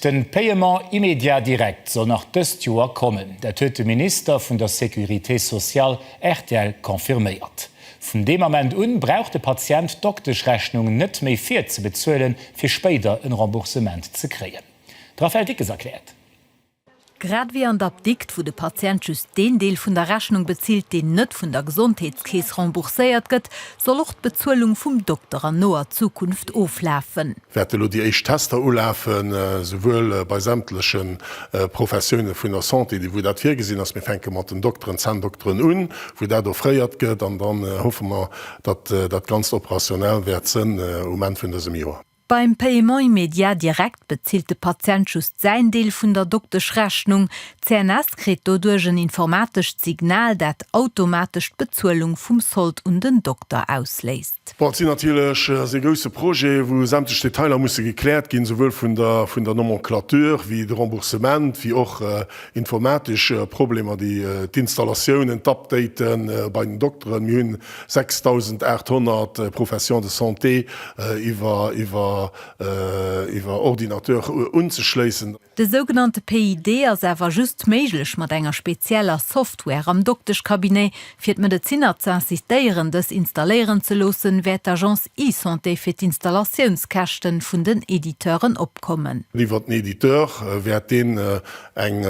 De Paiement immédiat direct soll nach dëst Joer kommen. Dat huet de Minister vun der Sécurité sociale rtl confirméiert. Vun deem Ament un brauch de Patient d'Dokteschrechnung net méi virzebezuelen, fir spéider en Remboursement ze kréien. De Raphaël Dickes erkläert. Grad wéi an der Apdikt, wou de Patient just deen Deel vun der Rechnung bezilt, deen net vun der Gesondheetskeess rembourséiert gëtt, soll och d'Bezuelung vum Dokter an noer Zukunft oflafen. wäerte lo déi éischt Tester ulafen, souwuel bei sämtleche Professioune vun der Santé, déi wou dat virgesinn ass, mir fänke mat den Dokteren, Zänndokteren un, wou dat offréiert gëtt, an dann hoffe mer, datt dat Ganzt operationell wäert sënn um Enn vun dësem Joer. Beim Paiement immédiat direct bezilt de Patient just säin Deel vun der Dokteschrechnung. D'CNS kritt doduerch en informatescht Signal, dat automatesch d'Bezuelung vum Sold un den Dokter ausléist. Bon, et sinn natierlech, ass ee grousse Projet, wou sämtlech Detailer musse gekläert ginn, souwuel vun der vun der Nomenclature wéi de Remboursement, wéi och informatesch Problemer, déi d'Installatiounen, d'Updaten bei den Dokteren. Mir hunn 6.800 Professions de santé iwwer Ordinateur unzeschléissen. De sougenannte PID ass awer just méiglech mat enger spezieller Software am Dokteschcabinet. Fir d'Medezinner z'insistéieren, dës installéieren ze loossen, wäert d'Agence eSanté fir d'Installatiounskäschten vun den Editeuren opkommen. Iwwert den Editeur wäert deen eng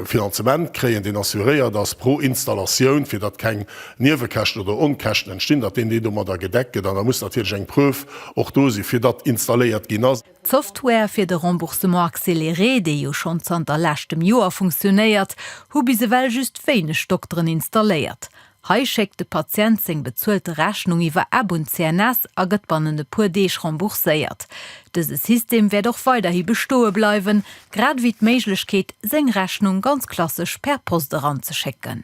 Finanzement kréien, deen assuréiert ass pro Installatioun, fir datt keng Niewekäschten oder Onkäschten entstinn, datt deen deen domadder gedeckt gëtt. An da muss natierlech eng Preuve och do sinn, fir datt installéiert ginn ass. D'Software fir de Remboursement accéléré, dee jo schonn zanter leschtem Joer funktionéiert, hu bis ewell just wéineg Dokteren installéiert. Hei schéckt de Patient seng bezuelte Rechnung iwwer App un d'CNS a gëtt bannent e puer Deeg rembourséiert. Dëse System wäert och weiderhi bestoe bleiwen, grad ewéi d'Méiglechkeet, seng Rechnung ganz klassesch per Post eranzeschécken.